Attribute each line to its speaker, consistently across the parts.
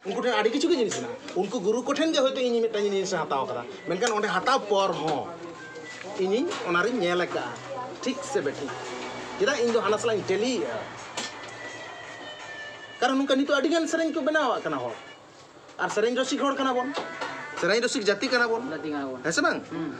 Speaker 1: ᱩᱱᱠᱩ ᱴᱷᱮᱱ ᱟᱹᱰᱤ ᱠᱤᱪᱷᱩ ᱜᱮ ᱡᱤᱱᱤᱥ ᱢᱮᱱᱟᱜᱼᱟ ᱩᱱᱠᱩ ᱜᱩᱨᱩ ᱠᱚᱴᱷᱮᱱ ᱜᱮ ᱦᱚᱭᱛᱳ ᱤᱧ ᱢᱤᱫᱴᱟᱝ ᱡᱤᱱᱤᱥ ᱦᱟᱛᱟᱣ ᱠᱟᱫᱟ ᱢᱮᱱᱠᱷᱟᱱ ᱚᱸᱰᱮ ᱦᱟᱛᱟᱣ ᱯᱚᱨ ᱦᱚᱸ ᱤᱧᱤᱧ ᱚᱱᱟᱨᱤᱧ ᱧᱮᱞ ᱟᱠᱟᱫᱼᱟ ᱴᱷᱤᱠ ᱥᱮ ᱵᱮᱴᱷᱤᱠ ᱪᱮᱫᱟᱜ ᱤᱧ ᱫᱚ ᱦᱟᱱᱟ ᱥᱟᱞᱟᱜ ᱤᱧ ᱴᱮᱞᱤᱭᱮᱫᱼᱟ ᱠᱟᱨᱚᱱ ᱱᱚᱝᱠᱟ ᱱᱤᱛᱚᱜ ᱟᱹᱰᱤ ᱜᱟᱱ ᱥᱮᱨᱮᱧ ᱠᱚ ᱵᱮᱱᱟᱣᱟᱜ ᱠᱟᱱᱟ ᱦᱚᱲ ᱟᱨ ᱥᱮᱨᱮᱧ ᱨᱚᱥᱤᱠ ᱦᱚᱲ ᱠᱟᱱᱟ ᱵᱚᱱ ᱥᱮᱨᱮᱧ ᱨᱚᱥᱤᱠ ᱡᱟᱹᱛᱤ ᱠᱟᱱᱟ ᱵᱚᱱ ᱦᱮᱸ ᱥᱮ ᱵᱟᱝ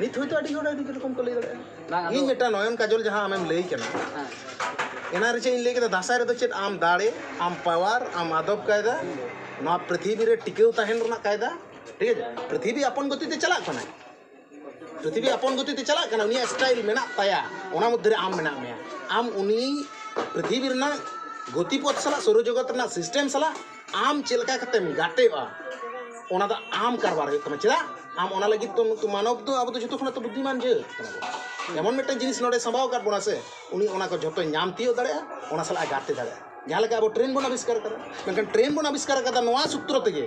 Speaker 1: ᱱᱤᱛ ᱦᱚᱭᱛᱳ ᱟᱹᱰᱤ ᱦᱚᱲ ᱟᱹᱰᱤ ᱨᱚᱠᱚᱢ ᱠᱚ ᱞᱟᱹᱭ ᱫᱟᱲᱮᱭᱟᱜᱼᱟ ᱤᱧ ᱢᱤᱫᱴᱟᱝ ᱱᱚᱭᱚᱱ ᱠᱟᱡᱚᱞ ᱡᱟᱦᱟᱸ ᱟᱢᱮᱢ ᱞᱟᱹᱭ ᱠᱟᱱᱟ ᱮᱱᱟᱱ ᱨᱮ ᱪᱮᱫ ᱤᱧ ᱞᱟᱹᱭ ᱠᱮᱫᱟ ᱫᱟᱸᱥᱟᱭ ᱨᱮᱫᱚ ᱪᱮᱫ ᱟᱢ ᱫᱟᱲᱮ ᱟᱢ ᱯᱟᱣᱟᱨ ᱟᱢ ᱟᱫᱚᱵ ᱠᱟᱭᱫᱟ ᱱᱚᱣᱟ ᱯᱨᱤᱛᱷᱤᱵᱤ ᱨᱮ ᱴᱤᱠᱟᱹᱣ ᱛᱟᱦᱮᱱ ᱨᱮᱱᱟᱜ ᱠᱟᱭᱫᱟ ᱴᱷᱤᱠ ᱟᱪᱷᱮ ᱯᱨᱤᱛᱷᱤᱵᱤ ᱟᱯᱚᱱ ᱜᱚᱛᱤ ᱛᱮ ᱪᱟᱞᱟᱜ ᱠᱟᱱᱟᱭ ᱯᱨᱤᱛᱷᱤᱵᱤ ᱟᱯᱚᱱ ᱜᱚᱛᱤ ᱛᱮ ᱪᱟᱞᱟᱜ ᱠᱟᱱᱟ ᱩᱱᱤᱭᱟᱜ ᱥᱴᱟᱭᱤᱞ ᱢᱮᱱᱟᱜ ᱛᱟᱭᱟ ᱚᱱᱟ ᱢᱚᱫᱽᱫᱷᱮ ᱨᱮ ᱟᱢ ᱢᱮᱱᱟᱜ ᱢᱮᱭᱟ ᱟᱢ ᱩᱱᱤ ᱯᱨᱤᱛᱷᱤᱵᱤ ᱨᱮᱱᱟᱜ ᱜᱚᱛᱤ ᱯᱚᱛᱷ ᱥᱟᱞᱟᱜ ᱥᱳᱣᱨᱚ ᱡᱚᱜᱚᱛ ᱨᱮᱱᱟᱜ ᱥᱤᱥᱴᱮᱢ ᱥᱟᱞᱟᱜ ᱟᱢ ᱪᱮᱫ ᱞᱮᱠᱟ ᱠᱟᱛᱮᱢ ᱜᱟᱛᱮᱜᱼᱟ ᱚᱱᱟ ᱫᱚ ᱟᱢ ᱠᱟᱨᱵᱟᱨ ᱦᱩᱭᱩᱜ ᱛᱟᱢᱟ ᱪᱮᱫᱟᱜ ᱟᱢ ᱚᱱᱟ ᱞᱟᱹᱜᱤᱫ ᱛᱮ ᱱᱩᱠᱩ ᱢᱟᱱᱚᱵᱽ ᱫᱚ ᱟᱵᱚ ᱫᱚ ᱡᱚᱛᱚ ᱠᱷᱚᱱᱟᱜ ᱫᱚ ᱵᱩᱫᱽᱫᱷᱤᱢᱟᱱ ᱡᱟᱹᱛ ᱠᱟᱱᱟ ᱵᱚᱱ ᱮᱢᱚᱱ ᱢᱤᱫᱴᱮᱱ ᱡᱤᱱᱤᱥ ᱱᱚᱰᱮ ᱥᱟᱢᱵᱟᱣ ᱟᱠᱟᱫ ᱵᱚᱱᱟ ᱥᱮ ᱩᱱᱤ ᱚᱱᱟ ᱠᱚ ᱡᱚᱛᱚᱭ ᱧᱟᱢ ᱛᱤᱭᱳᱜ ᱫᱟᱲᱮᱭᱟᱜᱼᱟ ᱚᱱᱟ ᱥᱟᱞᱟᱜ ᱮ ᱜᱟᱛᱮ ᱫᱟᱲᱮᱭᱟᱜᱼᱟ ᱡᱟᱦᱟᱸ ᱞᱮᱠᱟ ᱟᱵᱚ ᱴᱨᱮᱱ ᱵᱚᱱ ᱟᱵᱤᱥᱠᱟᱨ ᱠᱟᱫᱟ ᱢᱮᱱᱠᱷᱟᱱ ᱴᱨᱮᱱ ᱵᱚᱱ ᱟᱵᱤᱥᱠᱟᱨ ᱠᱟᱫᱟ ᱱᱚᱣᱟ ᱥᱩᱛᱨᱚ ᱛᱮᱜᱮ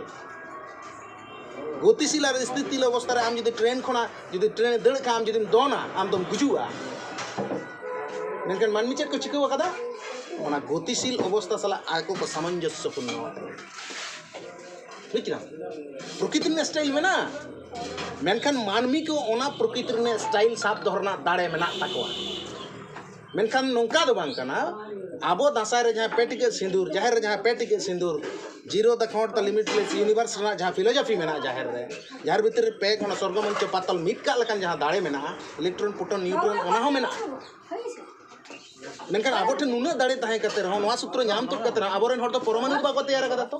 Speaker 1: ᱜᱚᱛᱤᱥᱤᱞ ᱟᱨ ᱤᱥᱛᱷᱤᱛᱤᱞ ᱚᱵᱚᱥᱛᱟ ᱨᱮ ᱟᱢ ᱡᱩᱫᱤ ᱴᱨᱮᱱ ᱠᱷᱚᱱᱟᱜ ᱡᱩᱫᱤ ᱴᱨᱮᱱ ᱫᱟᱹᱲ ᱠᱟᱜᱼᱟ ᱟᱢ ᱡᱩᱫᱤᱢ ᱫᱚᱱᱟ ᱟᱢ ᱫᱚᱢ ᱜᱩᱡᱩᱜᱼᱟ ᱢᱮᱱᱠᱷᱟᱱ ᱢᱟᱹᱱᱢᱤ ᱪᱮᱫ ᱠᱚ ᱪᱤᱠᱟᱹᱣ ᱠᱟᱫᱟ ᱚᱱᱟ ᱜᱚᱛᱤᱥᱤᱞ ᱚᱵᱚᱥᱛᱟ ᱥᱟᱞᱟᱜ ᱟᱠᱚ ᱠᱚ ᱥᱟᱢᱚᱧᱡᱚᱥᱥᱚ ᱯᱩᱨᱱᱚ ᱟᱠᱟᱱᱟ ᱵᱩᱡᱽ ᱠᱮᱫᱟᱢ ᱯᱨᱚᱠᱤᱛᱤ ᱨᱮᱱᱟᱜ ᱥᱴᱟᱭᱤᱞ ᱢᱮᱱᱟᱜᱼᱟ ᱢᱮᱱᱠᱷᱟᱱ ᱢᱟᱹᱱᱢᱤ ᱠᱚ ᱚᱱᱟ ᱯᱨᱚᱠᱤᱛᱤ ᱨᱮᱱᱟᱜ ᱥᱴᱟᱭᱤᱞ ᱥᱟᱵ ᱫᱚᱦᱚ ᱨᱮᱱᱟᱜ ᱫᱟᱲᱮ ᱢᱮᱱᱟᱜ ᱛᱟᱠᱚᱣᱟ ᱢᱮᱱᱠᱷᱟᱱ ᱱᱚᱝᱠᱟ ᱫᱚ ᱵᱟᱝ ᱠᱟᱱᱟ ᱟᱵᱚ ᱫᱟᱸᱥᱟᱭ ᱨᱮ ᱡᱟᱦᱟᱸ ᱯᱮ ᱴᱤᱠᱟᱹᱜ ᱥᱤᱸᱫᱩᱨ ᱡᱟᱦᱮᱨ ᱨᱮ ᱡᱟᱦᱟᱸ ᱯᱮ ᱴᱤᱠᱟᱹᱜ ᱥᱤᱸᱫᱩᱨ ᱡᱤᱨᱳ ᱫᱟ ᱠᱷᱚᱸᱰ ᱫᱟ ᱞᱤᱢᱤᱴ ᱞᱮᱥ ᱤᱭᱩᱱᱤᱵᱷᱟᱨᱥ ᱨᱮᱱᱟᱜ ᱡᱟᱦᱟᱸ ᱯᱷᱤᱞᱳᱡᱚᱯᱷᱤ ᱢᱮᱱᱟᱜᱼᱟ ᱡᱟᱦᱮᱨ ᱨᱮ ᱡᱟᱦᱮᱨ ᱵᱷᱤᱛᱨᱤ ᱨᱮ ᱯᱮ ᱠᱷᱚᱸᱰ ᱥᱚᱨᱜᱚ ᱢᱚᱧᱪᱚ ᱯᱟᱛᱟᱞ ᱢᱤᱫ ᱠᱟᱜ ᱞᱮᱠᱟᱱ ᱡᱟᱦᱟᱸ ᱫᱟᱲᱮ ᱢᱮᱱᱟᱜᱼᱟ ᱤᱞᱮᱠᱴᱨᱚᱱ ᱯᱨᱳᱴᱚᱱ ᱱᱤᱭᱩᱴᱨᱚᱱ ᱚᱱᱟ ᱦᱚᱸ ᱢᱮᱱᱟᱜᱼᱟ ᱢᱮᱱᱠᱷᱟᱱ ᱟᱵᱚ ᱴᱷᱮᱱ ᱱᱩᱱᱟᱹᱜ ᱫᱟᱲᱮ ᱛᱟᱦᱮᱸ ᱠᱟᱛᱮ ᱨᱮᱦᱚᱸ ᱱᱚᱣᱟ ᱥᱩᱛᱨᱚ ᱧᱟᱢ ᱛᱩᱫ ᱠᱟᱛᱮ ᱨᱮᱦᱚᱸ ᱟᱵᱚ ᱨᱮᱱ ᱦᱚᱲ ᱫᱚ ᱯᱚᱨᱚᱢᱟᱱᱩ ᱫᱚ ᱵᱟᱠᱚ ᱛᱮᱭᱟᱨ ᱠᱟᱫᱟ ᱛᱚ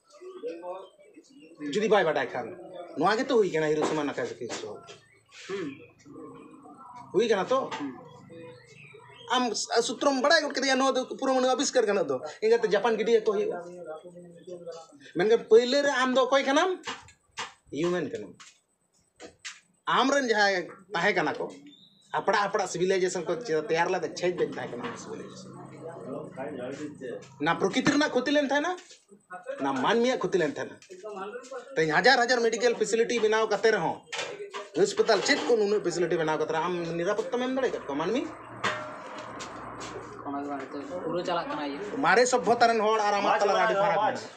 Speaker 1: ᱡᱩᱫᱤ ᱵᱟᱭ ᱵᱟᱰᱟᱭ ᱠᱷᱟᱱ ᱱᱚᱣᱟ ᱜᱮᱛᱚ ᱦᱩᱭ ᱠᱟᱱᱟ ᱦᱤᱨᱳᱥᱤᱢᱟ ᱱᱟᱠᱟᱡᱟᱠᱤ ᱫᱚ ᱦᱩᱭ ᱠᱟᱱᱟ ᱛᱚ ᱟᱢ ᱥᱩᱛᱨᱚᱢ ᱵᱟᱲᱟᱭ ᱜᱚᱫ ᱠᱮᱫᱮᱭᱟ ᱱᱚᱣᱟ ᱫᱚ ᱯᱩᱨᱟᱹ ᱟᱵᱤᱥᱠᱟᱨ ᱜᱟᱱᱚᱜ ᱫᱚ ᱤᱱᱟᱹᱛᱮ ᱡᱟᱯᱟᱱ ᱜᱤᱰᱤᱭᱟᱠᱚ ᱦᱩᱭᱩᱜᱼᱟ ᱢᱮᱱᱠᱷᱟᱱ ᱯᱟᱹᱭᱞᱟᱹ ᱨᱮ ᱟᱢ ᱫᱚ ᱚᱠᱚᱭ ᱠᱟᱱᱟᱢ ᱦᱤᱭᱩᱢᱮᱱ ᱠᱟᱱᱟᱢ ᱟᱢᱨᱮᱱ ᱡᱟᱦᱟᱸᱭ ᱛᱟᱦᱮᱸ ᱠᱟᱱᱟ ᱠᱚ ᱦᱟᱯᱲᱟᱜ ᱦᱟᱯᱲᱟᱜ ᱥᱤᱵᱤᱞᱟᱭᱡᱮᱥᱚᱱ ᱠᱚ ᱛᱮᱭᱟᱨ ᱞᱮᱫᱟ ᱪᱷᱮᱡᱽ ᱵᱟᱹᱧ ᱛᱟᱦᱮᱸ ᱠᱟᱱᱟ ᱱᱟ ᱯᱨᱚᱠᱤᱛᱤ ᱨᱮᱱᱟᱜ ᱠᱷᱚᱛᱤ ᱞᱮᱱ ᱛᱟᱦᱮᱱᱟ ᱱᱟ ᱢᱟᱹᱱᱢᱤᱭᱟᱜ ᱠᱷᱚᱛᱤ ᱞᱮᱱ ᱛᱟᱦᱮᱱᱟ ᱛᱮᱦᱮᱧ ᱦᱟᱡᱟᱨ ᱦᱟᱡᱟᱨ ᱢᱮᱰᱤᱠᱮᱞ ᱯᱷᱮᱥᱤᱞᱤᱴᱤ ᱵᱮᱱᱟᱣ ᱠᱟᱛᱮ ᱨᱮᱦᱚᱸ ᱦᱟᱥᱯᱟᱛᱟᱞ ᱪᱮᱫ ᱠᱚ ᱱᱩᱱᱟᱹᱜ ᱯᱷᱮᱥᱤᱞᱤᱴᱤ ᱵᱮᱱᱟᱣ ᱠᱟᱛᱮ ᱟᱢ ᱱᱤᱨᱟᱯᱚᱛᱛᱟᱢ ᱮᱢ ᱫᱟᱲᱮᱭᱟᱠᱟᱫ ᱠᱚᱣᱟ ᱢᱟᱹᱱᱢᱤ ᱯᱩᱨᱟᱹ
Speaker 2: ᱪᱟᱞᱟᱜ ᱠᱟᱱᱟ ᱢᱟᱨᱮ ᱥᱚᱵᱽᱵᱷᱚᱛᱟ ᱨᱮᱱ ᱦᱚᱲ
Speaker 1: ᱟᱨ ᱟᱢᱟᱜ ᱛᱟᱞᱟᱨᱮ ᱟᱹᱰᱤ ᱯᱷᱟᱨᱟᱠ ᱢᱮᱱᱟᱜᱼᱟ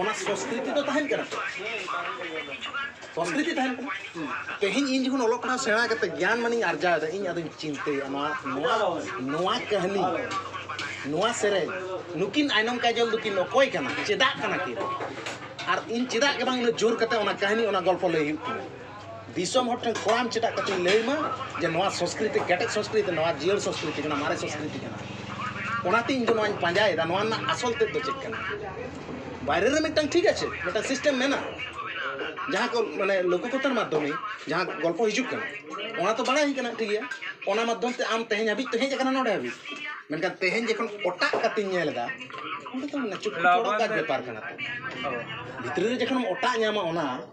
Speaker 1: ᱚᱱᱟ ᱥᱚᱥᱠᱨᱤᱛᱤ ᱫᱚ ᱛᱟᱦᱮᱱ ᱠᱟᱱᱟ ᱥᱚᱥᱠᱨᱤᱛᱤ ᱛᱟᱦᱮᱱ ᱠᱟᱱᱟ ᱛᱮᱦᱮᱧ ᱤᱧ ᱡᱚᱠᱷᱚᱱ ᱚᱞᱚᱜ ᱯᱟᱲᱦᱟᱣ ᱥᱮᱬᱟ ᱠᱟᱛᱮ ᱜᱮᱭᱟᱱ ᱢᱟᱱᱤᱧ ᱟᱨᱡᱟᱣᱮᱫᱟ ᱤᱧ ᱟᱫᱚᱧ ᱪᱤᱱᱛᱟᱹᱭᱟ ᱱᱚᱣᱟ ᱱᱚᱣᱟ ᱱᱚᱣᱟ ᱠᱟᱹᱦᱱᱤ ᱱᱚᱣᱟ ᱥᱮᱨᱮᱧ ᱱᱩᱠᱤᱱ ᱟᱭᱱᱚᱢ ᱠᱟᱡᱚᱞ ᱫᱚᱠᱤᱱ ᱚᱠᱚᱭ ᱠᱟᱱᱟ ᱪᱮᱫᱟᱜ ᱠᱟᱱᱟ ᱠᱤᱱ ᱟᱨ ᱤᱧ ᱪᱮᱫᱟᱜ ᱜᱮ ᱵᱟᱝ ᱩᱱᱟᱹᱜ ᱡᱳᱨ ᱠᱟᱛᱮ ᱚᱱᱟ ᱠᱟᱹᱦᱱᱤ ᱚᱱᱟ ᱜᱚᱞᱯᱚ ᱞᱟᱹᱭ ᱦᱩᱭᱩᱜ ᱛᱤᱧᱟᱹ ᱫᱤᱥᱚᱢ ᱦᱚᱲ ᱴᱷᱮᱱ ᱠᱚᱲᱟᱢ ᱪᱮᱴᱟᱜ ᱠᱟᱛᱮ ᱞᱟᱹᱭ ᱢᱟ ᱡᱮ ᱱᱚᱣᱟ ᱥᱚᱝᱥᱠᱨᱤᱛᱤ ᱠᱮᱴᱮᱡ ᱥᱚᱝᱥᱠᱨᱤᱛᱤ ᱱᱚᱣᱟ ᱡᱤᱭᱟᱹᱲ ᱥᱚᱝᱥᱠᱨᱤᱛᱤ ᱠᱟᱱᱟ ᱢᱟᱨᱮ ᱥᱚᱝᱥᱠᱨᱤᱛᱤ ᱠᱟᱱᱟ ᱚᱱᱟᱛᱮ ᱤᱧ ᱫᱚ ᱱᱚᱣᱟᱧ ᱯᱟᱸᱡᱟᱭᱮᱫᱟ ᱱᱚᱣᱟ ᱨᱮᱱᱟᱜ ᱟᱥᱚᱞ ᱛᱮᱫ ᱫᱚ ᱪᱮᱫ ᱠᱟᱱᱟ ᱵᱟᱭᱨᱮ ᱨᱮ ᱢᱤᱫᱴᱟᱝ ᱴᱷᱤᱠ ᱟᱪᱷᱮ ᱢᱤᱫᱴᱟᱝ ᱥᱤᱥᱴᱮᱢ ᱢᱮᱱᱟᱜᱼᱟ ᱡᱟᱦᱟᱸ ᱠᱚ ᱢᱟᱱᱮ ᱞᱳᱠᱚᱠᱚᱛᱟᱨ ᱢᱟᱫᱽᱫᱷᱚᱢᱮ ᱡᱟᱦᱟᱸ ᱜᱚᱞᱯᱚ ᱦᱤᱡᱩᱜ ᱠᱟᱱᱟ ᱚᱱᱟ ᱛᱚ ᱵᱟᱲᱟᱭ ᱠᱟᱱᱟ ᱴᱷᱤᱠ ᱜᱮᱭᱟ ᱚᱱᱟ ᱢᱟᱫᱽᱫᱷᱚᱢ ᱛᱮ ᱟᱢ ᱛᱮᱦᱮᱧ ᱦᱟᱹᱵᱤᱡ ᱛᱚ ᱦᱮᱡ ᱟᱠᱟᱱᱟ ᱱᱚᱰᱮ ᱦᱟᱹᱵᱤᱡ ᱢᱮᱱᱠᱷᱟᱱ ᱛᱮᱦᱮᱧ ᱡᱚᱠᱷᱚᱱ ᱚᱴᱟᱜ ᱠᱟᱛᱮᱧ ᱧᱮᱞ ᱮᱫᱟ ᱚᱸᱰᱮ ᱫᱚ ᱢᱟᱱᱮ ᱪᱩᱴᱯᱩᱴ ᱚᱲᱟᱜ ᱵᱮᱯᱟᱨ ᱠᱟᱱᱟ ᱵᱷᱤᱛᱨᱤ ᱨᱮ ᱡᱚᱠᱷᱚᱱᱮᱢ ᱚᱴᱟᱜ ᱧᱟᱢᱟ ᱚᱱᱟ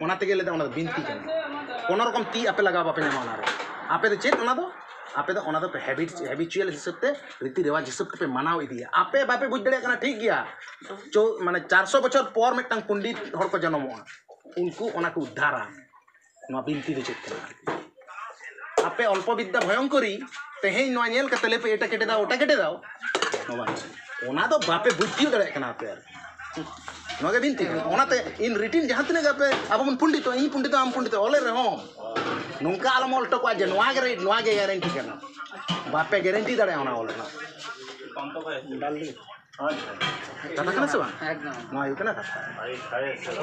Speaker 1: ᱚᱱᱟ ᱛᱮᱜᱮ ᱞᱟᱹᱭᱫᱟ ᱚᱱᱟ ᱫᱚ ᱵᱤᱱᱛᱤ ᱠᱟᱱᱟ ᱠᱳᱱᱳ ᱨᱚᱠᱚᱢ ᱛᱤ ᱟᱯᱮ ᱞᱟᱜᱟᱣ ᱵᱟᱯᱮ ᱧᱟᱢᱟ ᱚᱱᱟᱨᱮ ᱟᱯᱮ ᱫᱚ ᱪᱮᱫ ᱚᱱᱟ ᱫᱚ ᱟᱯᱮ ᱫᱚ ᱚᱱᱟ ᱫᱚ ᱦᱮᱵᱤᱴ ᱦᱮᱵᱤᱪᱩᱭᱮᱞ ᱦᱤᱥᱟᱹᱵ ᱛᱮ ᱨᱤᱛᱤ ᱨᱮᱣᱟᱡᱽ ᱦᱤᱥᱟᱹᱵ ᱛᱮᱯᱮ ᱢᱟᱱᱟᱣ ᱤᱫᱤᱭᱟ ᱟᱯᱮ ᱵᱟᱯᱮ ᱵᱩᱡᱽ ᱫᱟᱲᱮᱭᱟᱜ ᱠᱟᱱᱟ ᱴᱷᱤᱠ ᱜᱮᱭᱟ ᱪᱳ ᱢᱟᱱᱮ ᱪᱟᱨᱥᱚ ᱵᱚᱪᱷᱚᱨ ᱯᱚᱨ ᱢᱤᱫᱴᱟᱝ ᱯᱚᱱᱰᱤᱛ ᱦᱚᱲ ᱠᱚ ᱡᱚᱱᱚᱢᱚᱜᱼᱟ ᱩᱱᱠᱩ ᱚᱱᱟ ᱠᱚ ᱩᱫᱽᱫᱷᱟᱨᱟ ᱱᱚᱣᱟ ᱵᱤᱱᱛᱤ ᱫᱚ ᱪᱮᱫ ᱠᱟᱱᱟ ᱟᱯᱮ ᱚᱞᱯᱚ ᱵᱤᱫᱽᱫᱟ ᱵᱷᱚᱭᱚᱝᱠᱚᱨᱤ ᱛᱮᱦᱮᱧ ᱱᱚᱣᱟ ᱧᱮᱞ ᱠᱟᱛᱮ ᱞᱮᱯᱮ ᱮᱴᱟ ᱠᱮᱴᱮ ᱫᱟᱣ ᱚᱴᱟ ᱠᱮᱴᱮ ᱫᱟᱣ ᱚᱱᱟ ᱫᱚ ᱵᱟᱯᱮ ᱵᱩᱡᱽ ᱛᱤᱭᱳᱜ ᱫᱟᱲᱮᱭᱟᱜ ᱠᱟᱱᱟ ᱟᱯᱮ ᱟᱨ ᱱᱚᱣᱟ ᱜᱮ ᱵᱤᱱᱛᱤ ᱠᱟᱱᱟ ᱚᱱᱟᱛᱮ ᱤᱱ ᱨᱤᱴᱤᱱ ᱡᱟᱦᱟᱸ ᱛᱤᱱᱟᱹᱜ ᱜᱮ ᱟᱯᱮ ᱟᱵᱚ ᱵᱚᱱ ᱯᱩᱱᱰᱤᱛᱚᱜ ᱤᱧ ᱯᱩᱱᱰᱤᱛᱚᱜ ᱟᱢ ᱯᱩᱱᱰᱤᱛᱚᱜ ᱚᱞᱮ ᱨᱮᱦᱚᱸ ᱱᱚᱝᱠᱟ ᱟᱞᱚᱢ ᱚᱞ ᱦᱚᱴᱚ ᱠᱟᱜᱼᱟ ᱡᱮ ᱱᱚᱣᱟ ᱜᱮ ᱱᱚᱣᱟ ᱜᱮ ᱜᱮᱨᱮᱱᱴᱤ ᱠᱟᱱᱟ ᱵᱟᱯᱮ ᱜᱮᱨᱮᱱᱴᱤ ᱫᱟᱲᱮᱭᱟᱜᱼᱟ ᱚᱱᱟ ᱚᱞ ᱨᱮᱱᱟᱜ ᱠᱟᱛᱷᱟ ᱠᱟᱱᱟ ᱥᱮ ᱵᱟᱝ ᱱᱚᱣᱟ ᱦᱩᱭᱩᱜ ᱠᱟᱱᱟ ᱠᱟᱛᱷᱟ